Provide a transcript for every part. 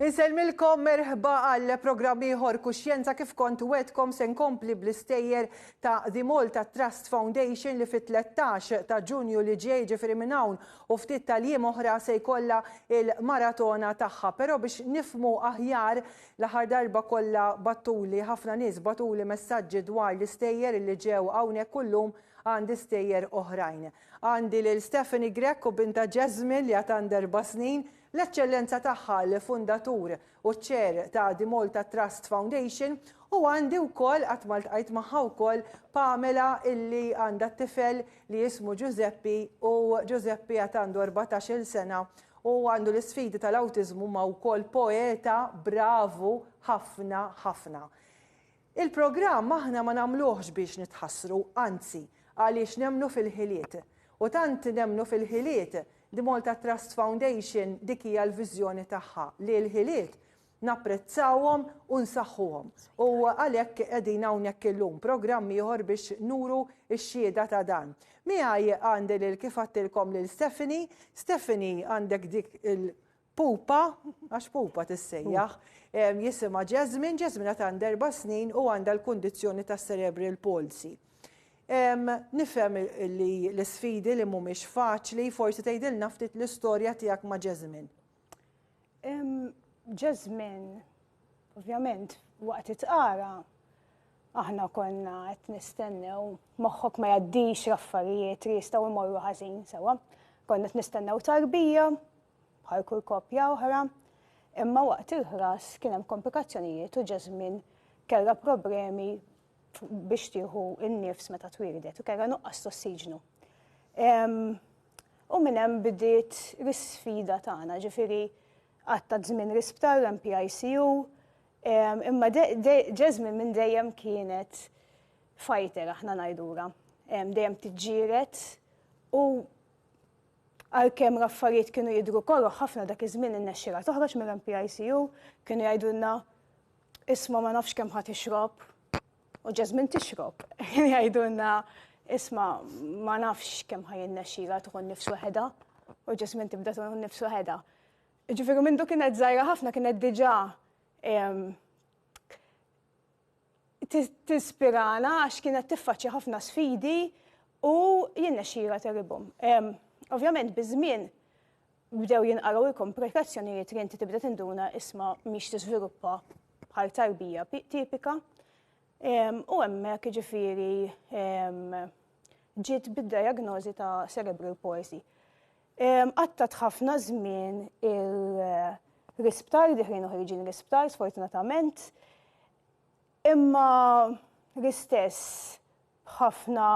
Insellmilkom merħba għal programm ieħor Kuxjenza kif kont wetkom se nkompli bl-istejjer ta' The Malta Trust Foundation li fit-13 ta' Ġunju li ġej ġifieri minn hawn u ftit tal-jiem oħra se jkollha il-maratona tagħha. Però biex nifmu aħjar L-aħħar darba kollha battuli, ħafna nies bagħtuli messaġġi dwar l-istejjer illi ġew hawnhekk u llum għandi stejjer oħrajn. Għandi lil Stephanie Grech u bintha Jasmine li għad għandha erba' snin. L-Eċċellenza tagħha, l-fundatur u ċ-chair ta' The Malta Trust Foundation u għandi wkoll, qatt ma ltqajt magħha wkoll, Pamela illi għandha t-tifel li jismu Ġużeppi u Ġużeppi għad għandu erbatax-il sena u għandu l-isfidi tal-awtiżmu ma wkoll poeta bravu ħafna ħafna. Il-programm aħna ma nagħmluhx biex nitħassru anzi għaliex nemmnu fil-ħiliet u tant nemmnu fil-ħiliet The Malta Trust Foundation dik hija l-viżjoni tagħha li l-ħiliet napprezzawhom u nsaħħuhom u għalhekk qegħdin hawnhekk illum, programm ieħor biex nuru x-xhieda ta' dan. Miegħi għandi lil kif għadtilkom lil Stephanie, Stephanie għandek dik il pupa, għax pupa tissejjaħ, jisimha Jasmine, Jasmine għad għandha erba' snin u għandha l-kundizzjoni ta' cerebral palsy. Nifhem li l-isfidi li mhumiex faċli, forsi tgħidilna ftit l-istorja tiegħek ma' Jasmine. Ġa żmien, ovvjament, waqt it-tqara, aħna konna qed nistennew, moħħok ma jaddix raffarijiet li jistgħu jmorru ħażin sewa. Konna qed nistennew tarbija, bħal kull koppja oħra, imma waqt il-ħras kien hemm komplikazzjonijiet u ġa żmien kellha problemi biex tieħu n-nifs meta twildet u kellha nuqqas tossiġnu. U minn hemm bdiet l-isfida tagħna, ġifieri għatta żmien l-isptar l-MPICU, imma Jasmine minn dejjem kienet fighter aħna ngħidura. Dejjem tiġġieret u għalkemm l-affarijiet kienu jidhru koroh ħafna dak iż-żmien innexxilha toħroġ mill-MPICU, kienu jgħidulna Isma' ma nafx kemm ħa tixrob. U Jasmine tixrob. Jgħidulna isma' ma nafx kemm ħa jinnexxila tkun nifs weħedha. U Jasmine tibda tkun nifs weħedha. Ġifieri minn du kienet żgħira ħafna kienet diġà tispirana għax kienet tiffaċċja ħafna sfidi u jinnexxila teribhom. Ovvjament biż-żmien bdew jinqaraw il-komplikazzjonijiet li inti tibda tinduna isma mhix tiżviluppa bħal tarbija tipika. U hemmhekk jiġifieri ġiet bid-diagnosi ta' cerebral palsy. Qattat ħafna żmien il-risptar, diħrin uħriġin risptar, sfortunatament. Imma l-istess b'ħafna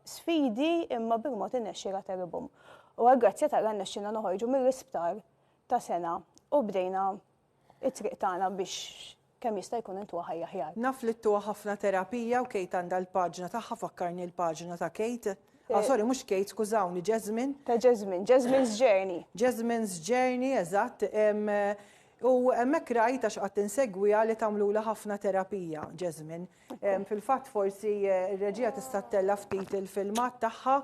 sfidi imma bil-mod innexxiela teribhom. U għall-grazzja t'Alla rnexxielna noħorġu mill-isptar ta' sengħa u bdejna t-triq tagħna biex kemm jista' jkun intuha ħajja aħjar. Naf li dtuha ħafna terapija u Kate għandha l-paġna tagħha fakkarni l-paġna ta' Kate. Ah sorry mhux Kate skużawni Jasmine. Ta' Jasmine, Jasmine's Journey. Jasmine's Journey eżatt. U hemmhekk rajt għax qatt insegwiha li tagħmlulha ħafna terapija, Jasmine. Fil-fatt forsi eh, r-reġija tista' ttella' ftit il-filmat tagħha,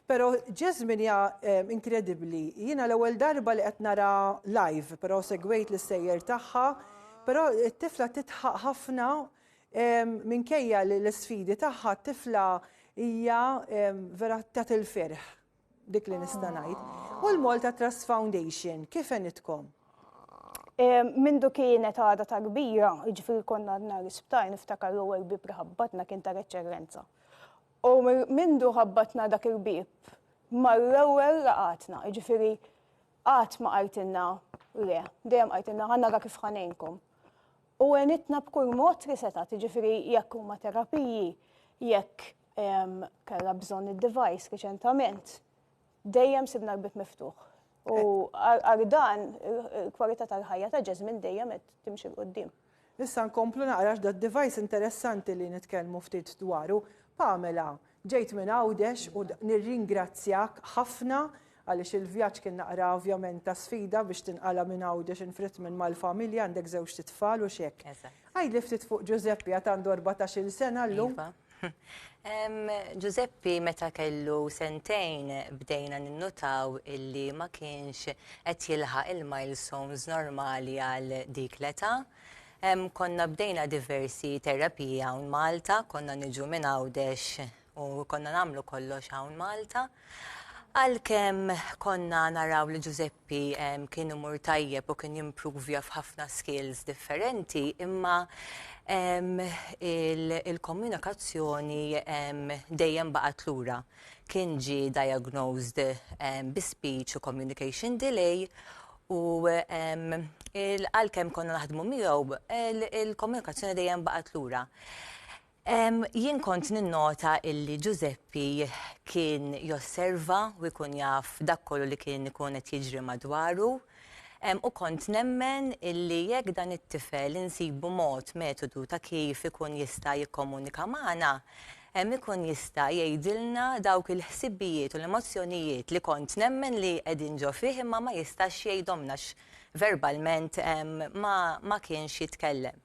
però Jasmine hija eh, inkredibbli. Jiena l-ewwel darba li qed nara live, però segwejt l-sejjer tagħha, però t-tifla titħaq ħafna minkejja li l-sfidi tagħha t-tifla hija vera tat il-ferħ. Dik li nista' ngħid. U l-Malta Trust Foundation, kif għenitkom? Mindu kienet għada ta' kbira, ġifir konna għadna l-isptar, niftakar l-ewwel bib li ħabbatna kien ta' reċerrenza. U mindu ħabbatna dak il-bib, mal-ewwel laqatna, ġifiri qatt ma qajtilna le, dejjem qajtilna ħanna ra kif ħanejnkom. U għenitna b'kull mod li setat, ġifiri jekk huma terapiji, jekk kella bżonn id-device riċentament, dejjem sibna l-bib miftuħ. U għal dan il-kwalità tal-ħajja ta' Jasmine dejjem qed timxi l-qudiem. Nista' nkomplu naqrax da device interessanti li nitkellmu ftit dwaru. Pamela, Ġejt minn Għawdex u nirringrazzjak ħafna għaliex il-vjaġġ kien naqra ovvjament ta' sfida biex tinqala' minn Għawdex in Fritmin mal-familja, għandek żewġt itfal u x'hekk. Għidli ftit fuq Ġużeppi għad għandu erbatax-il sena llum. Ġużeppi meta kellu sentejn bdejna ninnutaw illi ma kienx qed jilħaq il-milestones normali għal dik l-età. Hemm konna bdejna diversi terapiji hawn Malta, konna niġu minn Għawdex u konna nagħmlu kollox hawn Malta. Għalkemm konna naraw li Ġużeppi kien imur tajjeb u kien jimprovja f'ħafna skills differenti, imma il-komunikazzjoni dejjem baqgħet lura. Kien ġie diagnosed bi speech u communication delay u għalkemm konna naħdmu miegħu, il-komunikazzjoni dejjem baqgħet lura. Jien kont ninnota illi Ġużeppi kien josserva u jkun jaf dak kollu li kien ikun qed jiġri madwaru u kont nemmen illi jekk dan it-tifel insibu mod, metodu ta' kif ikun jista' jikkomunika magħna, Hemm ikun jista' jgħidilna dawk il-ħsibijiet u l-emozzjonijiet li kont nemmen li qegħdin ġo fih imma ma jistax jgħidhomna għax verbalment ma ma kienx jitkellem.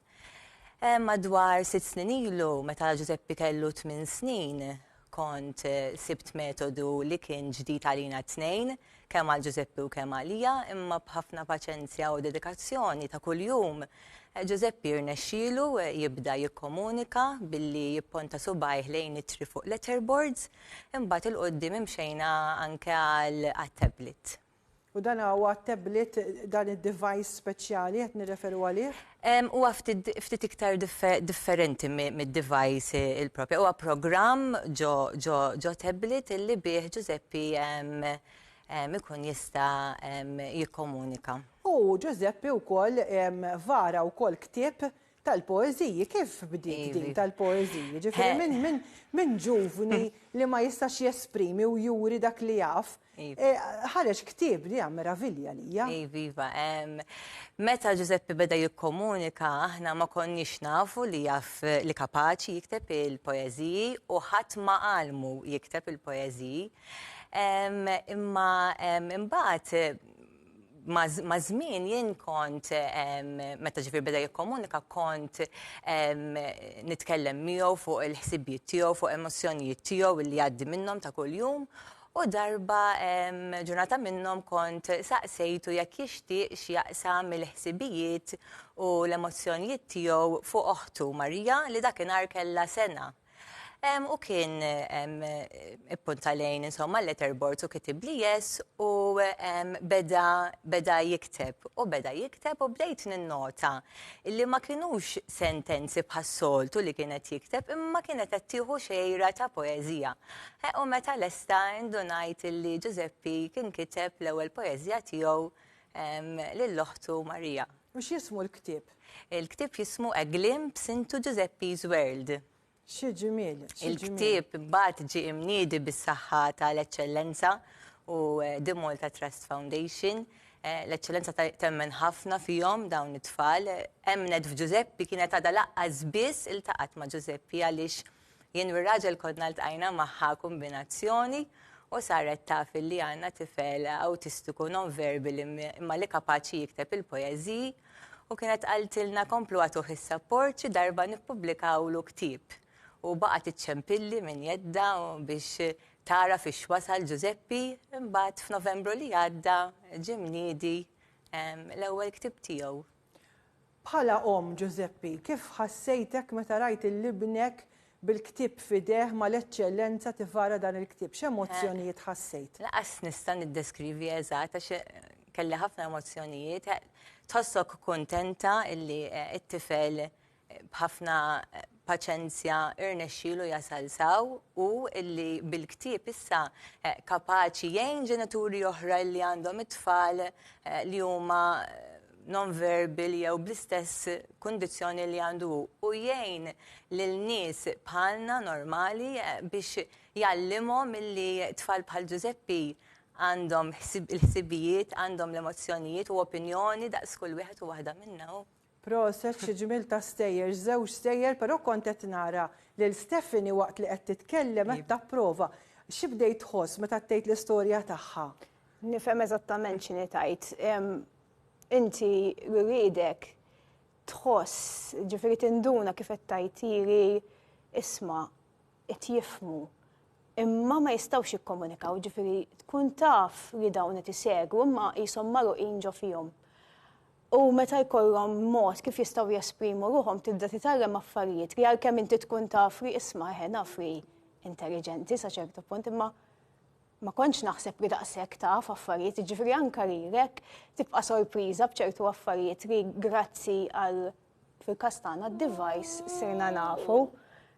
Madwar sitt snin ilu meta Ġużeppi kellu tmien snin kont sibt metodu li kien ġdid għalina t-tnejn kemm għal Ġużeppi u kemm għalija, imma b'ħafna paċenzja u dedikazzjoni ta' kuljum, Ġużeppi rnexxielu jibda jikkomunika billi jipponta subgħajh lejn ittri fuq letterboards, imbagħad 'il quddiem imxejna anke għal għat-tablet. U dan huwa t-tablet, dan id-device speċjali qed nirreferu għalih? Huwa ftit iktar differenti mid-device il-proprja. Huwa programm ġo tablet li bih Ġużeppi ikun jista' jikkomunika. U Ġużeppi wkoll vara wkoll ktieb tal-poeżiji. Kif bdiet din tal-poeżiji? Jiġifieri minn ġuvni li ma jistax jesprimi u juri dak li jaf, Ħareġ ktieb li meravilja lija. Iva, meta Ġużeppi beda jikkomunika, aħna ma konniex nafu li jaf li kapaċi jikteb il-poeżiji u ħadd ma għalmu jikteb il-poeżiji. Imma imbagħad Maż-żmien jien kont meta ġifieri beda jikkomunika kont nitkellem miegħu fuq il-ħsibijiet tiegħu, fuq emozzjonijiet tiegħu li jgħaddi minnhom ta' kuljum. U darba ġurnata minnhom kont saqsejtu jekk jixtieqx jaqsam il-ħsibijiet u l-emozzjonijiet tiegħu fuq oħtu Marija li dakinhar kellha sena. U kien ippunta lejn insomma letterboard u kitib li yes u beda jikteb u beda jikteb u bdejt ninnota li ma kienux sentenzi bħas-soltu li kienet jikteb imma kienet qed tieħu xejra ta' poeżija. Eh, u meta lesta indunajt li Ġużeppi kien kiteb l-ewwel poeżija tiegħu lil oħtu Marija. U x'jismu l-ktieb? Il-ktieb jismu A Glimpse into Giuseppe's World. Xi ġimiel! Il-ktieb imbagħad ġie imniedi bis-saħħa tal-Eċċellenza u The Malta Trust Foundation. L-Eċċellenza temmen ħafna fihom dawn it-tfal. Emmnet f'Ġużeppi kienet għadha laqqas biss iltaqgħet ma' Ġużeppi għaliex Jien u r-raġel konna ltqajna magħha kombinazzjoni u saret taf illi għandna tifel awtistiku nonverbili imma li kapaċi jikteb il-poeżiji u kienet qaltilna komplu agħtuh is-sapport xi darba nippubblikawlu ktieb u baqgħet iċċempilli minn jeddha biex tagħraf ix wasal Ġużeppi imbagħad f'Novembru li għadda ġie mniedi l-ewwel ktieb tiegħu. Bħala omm, Ġużeppi, kif ħassejtek meta rajt lil ibnek bil-ktieb f'idejh ma' l-Eċċellenza tivara dan il-ktieb? X'emozzjonijiet ħassejt? Lanqas nista' niddeskrivi eżatt għax kelli ħafna emozzjonijiet. Tħossok kuntenta illi t-tifel b'ħafna paċenzja irnexxielu jasal s'hawn u li bil-ktieb issa kapaċi jgħin ġenituri oħra li għandhom it-tfal li huma non-verbal jew bl-istess kundizzjoni li għandu hu u jgħin lil nies bħalna normali eh, biex jgħallimhom milli tfal bħal Ġużeppi għandhom il-ħsibijiet, għandhom l-emozzjonijiet u opinjoni daqs kull wieħed u waħda minna. Proset xi ġmiel ta' stejjer, żewġ stejjer però kont qed nara lil Stephanie waqt li qed titkellem qed tapprova. Xi bdejt tħoss meta għaddejt l-istorja tagħha? Nifhem eżattament x'inhi tgħid. Inti ririedek tħoss, ġifieri tinduna kif qed tgħid iri isma' qed jifhmu imma ma jistgħux jikkomunikaw, ġifieri tkun taf li dawn qed isegwu imma qishom magħluqin ġo fihom. U meta jkollhom mod kif jistgħu jesprimu ruħhom tibda titgħallem affarijiet li għalkemm inti tkun taf li isma' eħe naf li intelliġenti sa ċertu punt imma ma kontx naħseb li daqshekk taf affarijiet, jiġifieri anke lilek tibqa' sorpriża b'ċertu affarijiet li grazzi għal fil-każ tagħna d-device sirna nafu.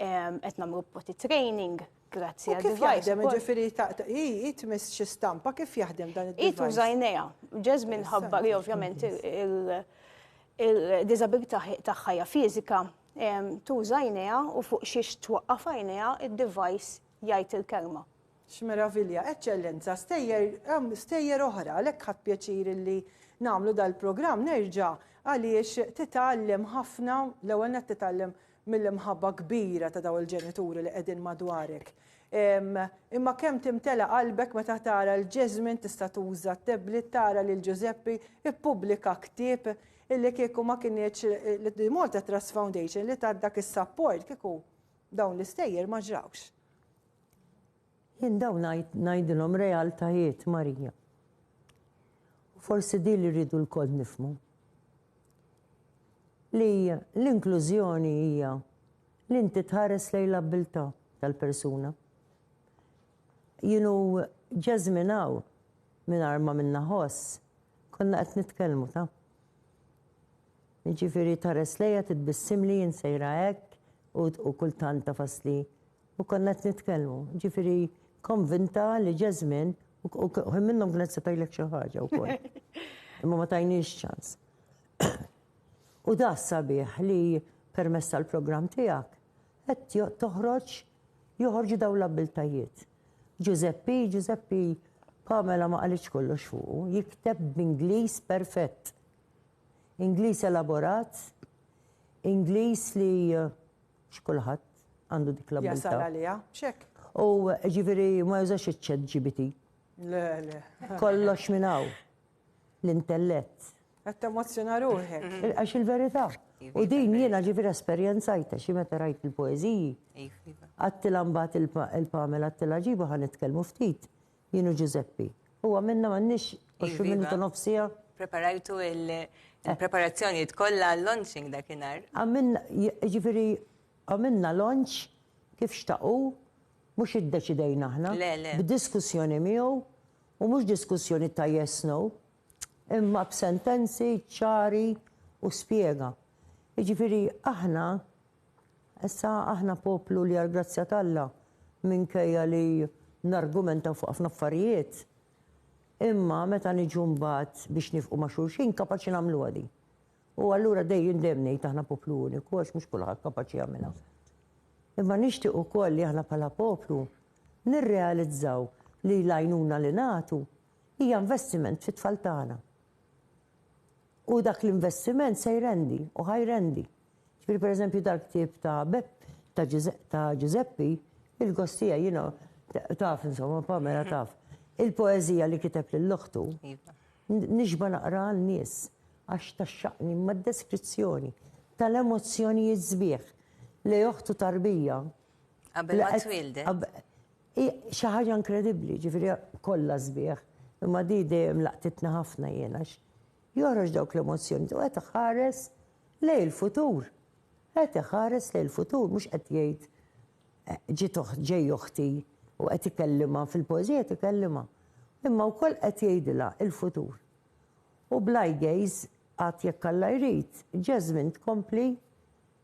Qed nagħmlu potty training grazzi għal device. Kif jaħdem ġifieri hi tmiss xi stampa kif jaħdem dan id-device? Hi tuża jnejha. Jasmine ħabbar li ovvjament il-diżabilità tagħha hija fiżika tuża jnejha u fuq xiex twaqqaf għajnejha id-device jgħid il-kelma. X'meravilja, Eċċellenza, stejjer, hemm stejjer oħra, għalhekk ħadt pjaċir illi nagħmlu dal-programm nerġa' għaliex titgħallem ħafna, l-ewwel nett titgħallem mill-imħabba kbira ta' dawn il-ġenituri li qegħdin madwarek. Imma kemm timtela qalbek meta tara l Jesmine tista' tuża t-tablet tara lil Ġużeppi ippubblika ktieb illi kieku ma kinitx li Malta Trust Foundation li tat dak is-sapport kieku dawn l-istejjer ma ġrawx. Jien dawn ngħid ngħidilhom realtajiet, Marija. U forsi din li rridu lkoll nifhmu. Li l-inklużjoni hija li inti tħares lejn l-abbiltà tal-persuna. Jienu ġeżminaw mingħajr ma minna ħoss, konna qed nitkellmu ta' Ġifiri tares leja titbissim li jinsejra hekk u kultant tafas li U konna qed nitkellmu, ġifieri konvinta li ġa żmien, u ħin minnhom kienet se tgħidlek xi ħaġa wkoll. Imma ma tajniex ċans. U da sabiħ li permezz tal-programm tiegħek qed toħroġ joħorġu dawn l-abbiltajiet. Ġużeppi, Ġużeppi, Pamela ma qalitx kollox fuqu, jikteb b'Ingliż perfett. Ingliż elaborat, Ingliż li eh, Mhux kulħadd għandu dik l-abilità. Jasal għaliha, x'hekk. U ġifieri ma jużax iċ-chat GBT. Le, le. Kollox minn hawn. L-intellett. Qed temozzjona ruħek. Għax il-verità. U din jiena ġifieri esperjenzajta xi meta rajt il-poeżiji. Għattila mbagħad il-Pamela għattila ġibu ħa nitkellmu ftit. Jien u Ġużeppi. U għamilna m'għandniex 20 minuta u nofs siegħa? Preparajtu il-preparazzjonijiet kollha għal-launching dakinhar? Għamilna, jiġifieri għamilna launch kif xtaq hu, mhux iddeċidejna aħna. Le, le. B'diskussjoni miegħu, u mhux diskussjoni ta' yes, no, imma b'sentenzi ċari u spjega. Jiġifieri aħna Issa aħna poplu li għall-grazzja t'Alla, minkejja li nargumentaw fuq ħafna affarijiet, imma meta niġu mbagħad biex nifqu ma' xulxin, kapaċi nagħmluha din. U allura dejjem dejjem ngħid aħna poplu uniku għax mhux kulħadd kapaċi jagħmilha. Imma nixtieq ukoll li aħna bħala poplu nirrealizzaw li l-għajnuna li nagħtu hija investiment fit-tfal tagħna. U dak l-investiment se jrendi u ħa jrendi. Jiġifieri pereżempju dal-ktieb ta' Beppe, ta' Ġużeppi, il-gost tiegħi jiena taf insomma, Pamela taf, il-poeżija li kiteb lil oħtu, nixba' naqraha għan-nies għax tgħaxxaqni imma d-deskrizzjoni tal-emozzjonijiet sbieħ li oħtu tarbija. Qabel ma twieldet. Hi xi ħaġa inkredibbli, jiġifieri kollha sbieħ, imma di dejjem laqtitni ħafna jien għax Joħroġ dawk l-emozzjonijiet u qed iħares lejn il-futur. Qed iħares lejn il-futur mhux qed jgħid ġiet ġej oħti u qed ikellimha fil-poeżija qed ikellimha. Imma wkoll qed jgħidilha il-futur. U bl-eye gaze għad jekk Alla jrid, Jasmine tkompli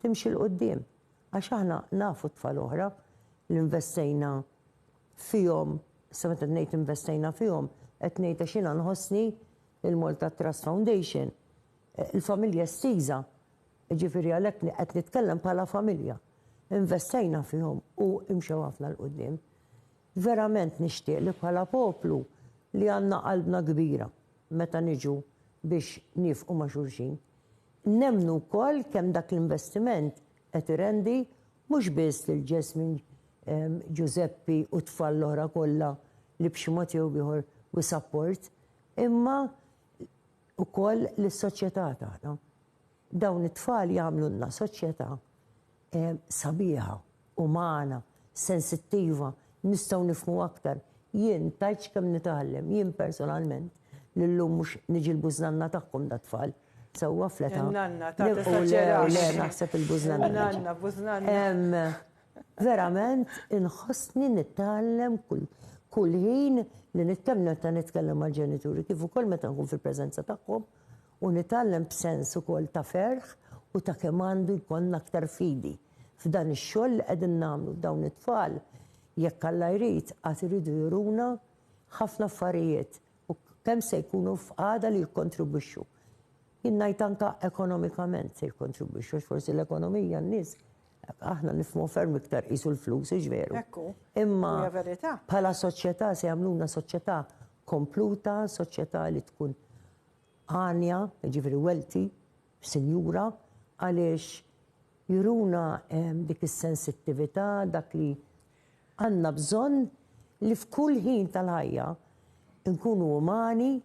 timxi 'l quddiem. Għax aħna nafu tfal oħra li nvestejna fihom, issa meta ngħid investejna fihom qed ngħid għax jiena nħossni il-Malta Trust Foundation, il-familja estiża, jiġifieri għalhekk qed nitkellem bħala familja, investejna fihom u imxew ħafna 'l quddiem. Verament nixtieq li bħala poplu li għandna qalbna kbira meta niġu biex niefqu ma' xulxin, nemmnu wkoll kemm dak l-investiment qed irendi mhux biss lil Jasmine, Ġużeppi u t-tfal l-oħra kollha li b'xi mod jew b'ieħor wi support, imma wkoll lis-soċjetà tagħna. Dawn it-tfal jagħmlulna soċjetà sabiħa, umana, sensittiva, nistgħu nifhmu aktar. Jien tgħidx kemm nitgħallem, jien personalment, li llum mhux niġi l-bużnanna tagħhom dat-tfal, sewwa fl-età. Il-nanna tagħna esaġerax. Le, le, naħseb il-bużnanna. Il-nanna, bużnanna. Verament inħossni nitgħallem kull ħin li kemm meta nitkellem mal-ġenituri kif ukoll meta nkun fil-preżenza tagħhom u nitgħallem b'sens ukoll ta' ferħ u ta' kemm għandu jkollna aktar fidi f'dan ix-xogħol li qegħdin nagħmlu. Dawn it-tfal, jekk Alla jrid, għad iridu juruna ħafna affarijiet u kemm se jkunu f'qagħda li jikkontribwixxu. Jien ngħid anke ekonomikament se jikkontribwixxu għax forsi l-ekonomija n-nies Aħna nifhmu ferm iktar qisu l-flus, hux veru? Hekk hu. Imma bħala soċjetà se jagħmluna soċjetà kompluta, soċjetà li tkun għanja, ġifieri welti, sinjura, għaliex juruna ehm, dik is-sensittività, dak li għandna bżonn li f'kull ħin tal-ħajja nkunu umani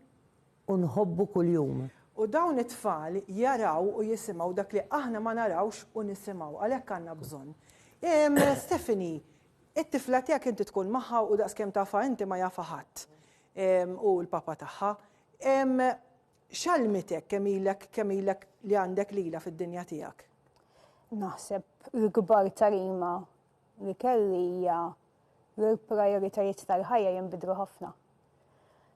U nħobbu kuljum. U dawn it-tfal jaraw u jisimgħu dak li aħna ma narawx u nisimgħu. Għalhekk għandna bżonn. Stephanie, it-tifla tiegħek inti tkun magħha u daqskemm tafha inti ma jafha ħadd. U l-papa tagħha. X'għallmitek kemm ilek kemm ilek li għandek lilha fid-dinja tiegħek? Naħseb l-ikbar tagħlima li kelli hija l-prioritajiet tal-ħajja jinbidlu ħafna.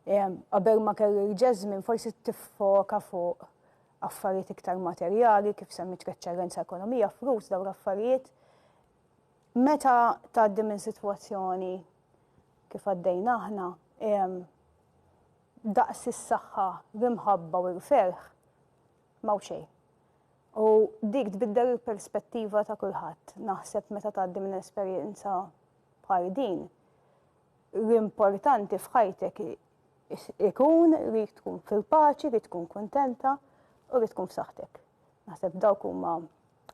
Qabel ma kelli l-Jasmine forsi tiffoka fuq affarijiet iktar materjali, kif semmit reċċellenza ekonomija, flus dawn l-affarijiet. Meta tgħaddi minn sitwazzjoni kif għaddejna aħna, daqs is-saħħa, l-imħabba u l-ferħ Ma hu xejn. U dik tbiddel il-perspettiva ta' kulħadd. Naħseb meta tgħaddi minn esperjenza bħal din, l-importanti f'ħajtek ikun li tkun fil-paċi, li tkun kuntenta u li tkun f'saħħtek. Naħseb dawk huma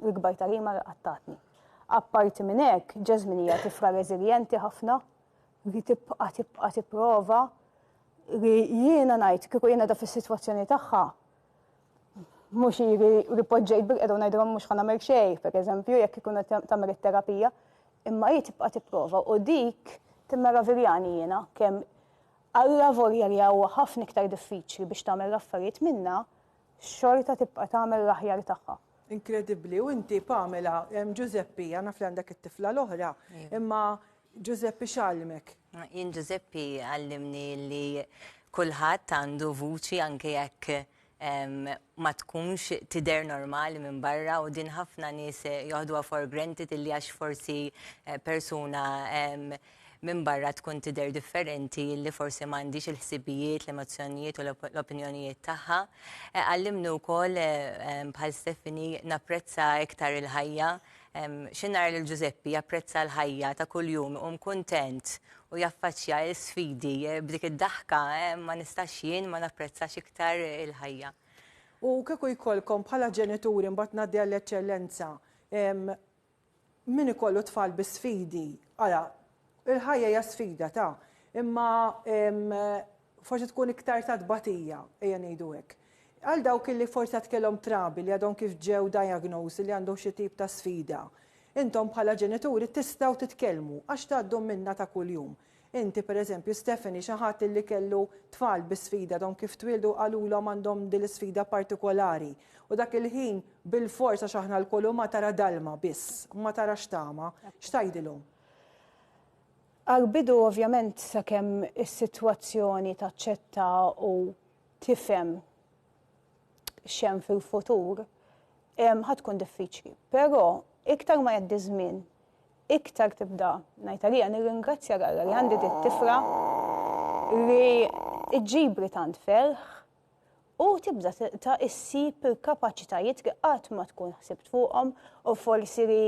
l-ikbar tagħlima li qattatni. Apparti minn hekk, Jasmine hija tifla reżiljenti ħafna li tibqa' tibqa' tipprova li jiena ngħid kieku jiena da fis-sitwazzjoni tagħha Mhux jiġri li poġġejt bil-qeda u ngħidilhom mhux ħa nagħmel xejn, pereżempju, jekk ikun qed tagħmel it-terapija, imma hi tibqa' tipprova u dik timmeraviljani jiena kemm Alla volja li huwa ħafna iktar diffiċli biex tagħmel l-affarijiet minnha, xorta tibqa' tagħmel l-aħjar tagħha. Inkredibbli, u inti Pamela, Ġużeppi, naf li għandek it-tifla l-oħra, imma Ġużeppi x'għallimek? Jien Ġużeppi għallimni li kulħadd għandu vuċi anke jekk ma tkunx tider normali minn barra u din ħafna nies eh, joħduha for granted illi għax forsi eh, persuna minn barra tkun tider differenti li forsi m'għandix il-ħsibijiet, l-emozzjonijiet u l-opinjonijiet tagħha. Eh, għallimnu wkoll bħal Stefani napprezza iktar il-ħajja Xi nara lil Ġużeppi japprezza l-ħajja ta' kuljum, iqum kuntent u jaffaċċja l-sfidi b'dik id-daħka, ma nistax jien ma napprezzax iktar il-ħajja. U kieku jkollkom bħala ġenituri, mbagħad ngħaddi għall-Eċċellenza, min ikollu tfal bi sfidi, ara, il-ħajja hija sfida ta', imma forsi tkun iktar ta' tbatija, ejja ngħidu hekk. Għal dawk li forsi għad kellhom trabi li għadhom kif ġew diagnosed li għandhom xi tip ta' sfida, intom bħala ġenituri tistgħu titkellmu għax tgħaddu minnha ta' kuljum. Inti, per eżempju, Stephanie, xi ħadd illi kellu tfal bi sfida għadhom kif twieldu qalulhom għandhom din l-isfida partikolari u dak il-ħin bilfors għax aħna lkoll umà tara dalma biss, ma tarax tama. X'tgħidilhom? Għall-bidu ovvjament sakemm is-sitwazzjoni taċċetta u tifhem x'hemm fil-futur, ħa tkun diffiċli. Però iktar ma jgħaddi ż-żmien, iktar tibda ngħid għaliha nirringrazzja lil Alla li għandi dit-tifla li ġġibli tant ferħ u tibda issib il-kapaċitajiet li qatt ma tkun ħsibt fuqhom u forsi li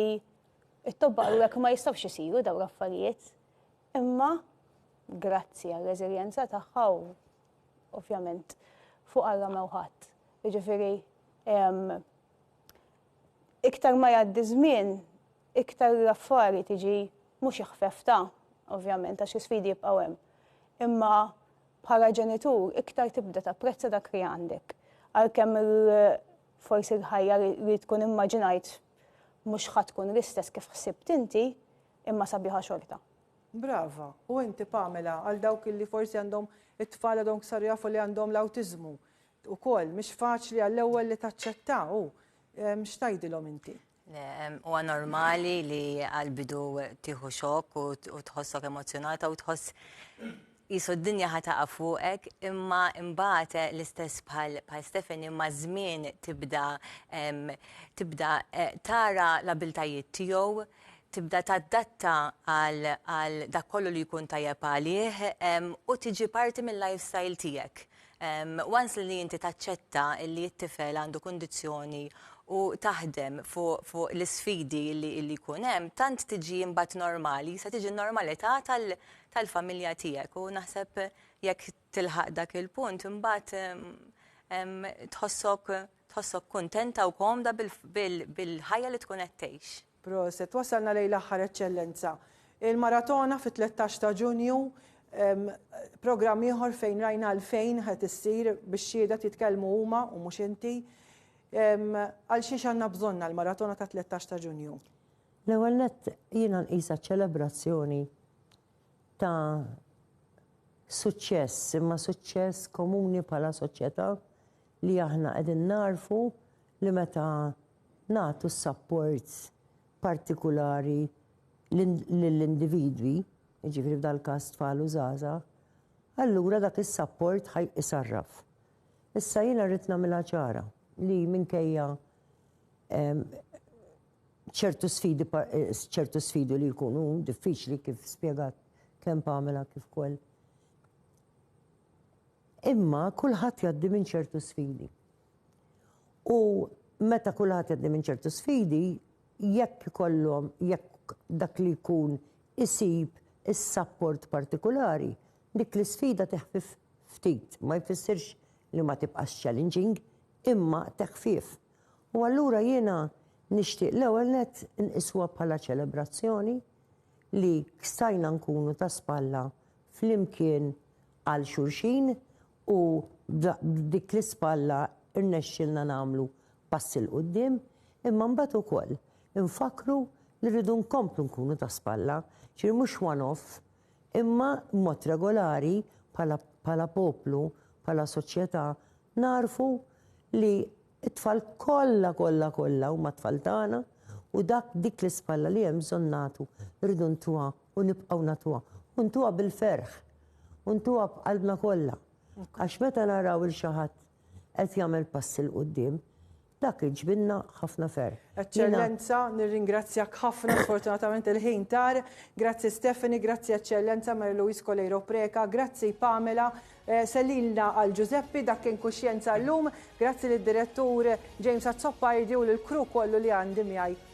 It-tobba qalulek ma jistgħux isiru dawn l-affarijiet, imma grazzi għar-reżiljenza tagħha u ovvjament fuq għarra mewħat. Jiġifieri iktar ma jgħaddi żmien, iktar l-affari tiġi mhux iħfefta, ovvjament, għax l-isfidi jibqgħu hemm. Imma bħala ġenitur, iktar tibda tapprezza dak li għandek. Għalkemm forsi l-ħajja li tkun immaġinajt Mhux ħa tkun l-istess kif ħsibt inti, imma sabiħa xorta. Brava, u inti Pamela, għal dawk illi forsi għandhom it-tfal għadhom saru jafu li għandhom l-awtiżmu. Ukoll mhix faċli għall-ewwel li taċċetta u x'tgħidilhom inti? Huwa normali li għal-bidu tieħu xokk u tħossok emozzjonata u tħoss Qisu d-dinja ħa taqa' fuqek imma imbagħad l-istess bħal bħal Stephanie maż-żmien tibda tibda tara l-abiltajiet tiegħu, tibda tadatta għal għal dak kollu li jkun tajjeb għalih u tiġi parti mil-lifestyle tiegħek. Once li inti taċċetta li t-tifel għandu kundizzjoni u taħdem fuq fuq l-isfidi li li jkun hemm, tant tiġi imbagħad normali, se tiġi n-normalità tal tal-familja tiegħek u naħseb jekk tilħaq dak il-punt imbagħad tħossok tħossok kuntenta u komda bil-ħajja li tkun qed tgħix. Proset, wasalna lejn l-aħħar Eċċellenza. Il-Maratona fit-tlettax ta' Ġunju programm ieħor fejn rajna għalfejn qed issir biex xhieda titkellmu huma u mhux inti. Għal xiex għandna bżonna l-Maratona ta' tlettax ta' Ġunju? L-ewwel nett jiena nqisha ċelebrazzjoni ta' suċċess, imma suċċess komuni bħala soċjetà li aħna qegħdin nagħrfu li meta nagħtu s-sapport partikulari lill-individwi, jiġifieri f'dal-każ tfal u żgħażagħ, allura dak is-sapport ħa jsarraf. Issa jiena rrid nagħmilha ċara li minkejja ċertu sfidi ċertu sfidi li jkunu diffiċli kif spjegat kemm Pamela kif ukoll. Imma kulħadd jgħaddi minn ċertu sfidi. U meta kulħadd jgħaddi minn ċertu sfidi, jekk ikollhom jekk dak li jkun isib is-sapport partikolari, dik l-isfida teħfif ftit, ma jfissirx li ma tibqax challenging, imma teħfif. U allura jiena nixtieq l-ewwel nett inqisuha bħala ċelebrazzjoni li stajna nkunu ta' spalla flimkien għal xulxin u b'dik l-ispalla rnexxielna nagħmlu passi 'l quddiem, imma mbagħad ukoll infakkru li rridu nkomplu nkunu ta' spalla, ġifieri mhux one off, imma b'mod regolari bħala poplu, bħala soċjetà Nagħrfu li t-tfal kollha kollha kollha huma t-tfal tagħna u dak dik l-ispalla li hemm bżonn nagħtu rridu ntuha u nibqgħu nagħtuha u ntuha bil-ferħ u ntuha b'qalbna kollha għax meta naraw 'il xi ħadd qed jagħmel passi 'l quddiem Dak li ġbidna ħafna ferħ. Eċċellenza, nirringrazzjak ħafna, sfortunatament il-ħin tar. Grazzi Stephanie, grazzi Eċċellenza Mary Louise Coleiro Preca, grazzi Pamela, eh, sellilna għal Ġużeppi dak kien kuxjenza llum, grazzi lid-direttur James Azzopardi u lill-crew kollu li għandi miegħi.